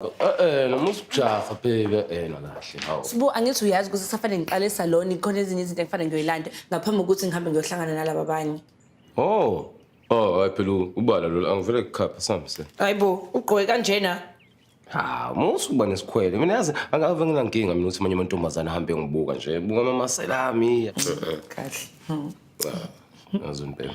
Eh noma usujaha bheke eh nakahle hawu. Sibu angithi uyazi ukuthi safane ngiqale salon ikhona ezinye izinto engifane ngiyoyilanda ngaphambi kokuthi ngihambe ngiyohlangana nalaba abanye. Oh. Oh, hayi phela ubala lolu angivele kukhapha sambise. Hayibo ugqoke kanjena. Ha, musu kuba nesikhwele. Mina yazi angave nginankinga mina ukuthi manje amantombazana ahambe ngibuka nje. Buka mama selami. Kahle. Yazi impela.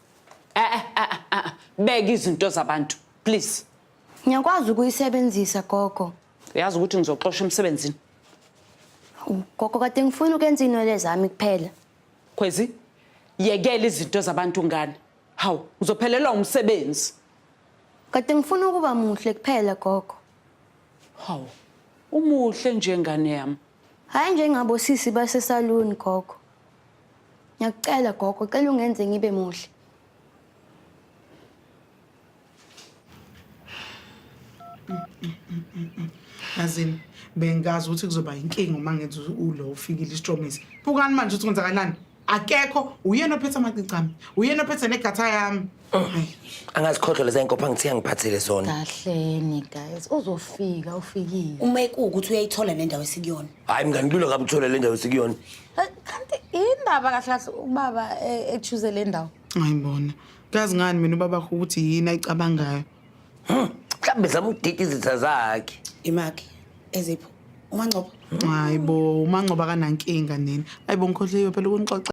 Eh, eh, eh, eh, eh, eh. beka izinto zabantu please Ngiyakwazi ukuyisebenzisa gogo. uyazi ukuthi ngizoxosha emsebenzini U- Gogo kade ngifuna ukwenza inwele zami kuphela. khwezi yekela izinto zabantu ngane hawu ngizophelelwa umsebenzi Kade ngifuna ukuba muhle kuphela gogo. hawu umuhle njengane yami Hayi njengabo sisi base salon gogo. Ngiyakucela gogo, cela ungenze ngibe muhle. Yazini bengazi ukuthi kuzoba inkinga uma ngenza ulo ufikile isitromisi. Bukani manje ukuthi kwenzakalani? Akekho uyena ophethe amacici ami. Uyena ophethe negatha yami. angazikhohlwa leza inkopha ngithe angiphathele zona kahleni guys uzofika ufikile uma ekuwukuthi uyayithola le ndawo esikuyona hhayi mngani kulula kabi uthole le ndawo esikuyona Eh, kanti indaba kahle kahle ubaba eh, echuze le ndawo ngayibona kazi ngani mina ubabakho ukuthi yini ayicabangayo mhlawumbe zama ukudida izitha zakhe imaki ezipho umangcobo hayi bo umangcoba kanankinga nini ayi bo ngikhohliwe phela ukunixoxa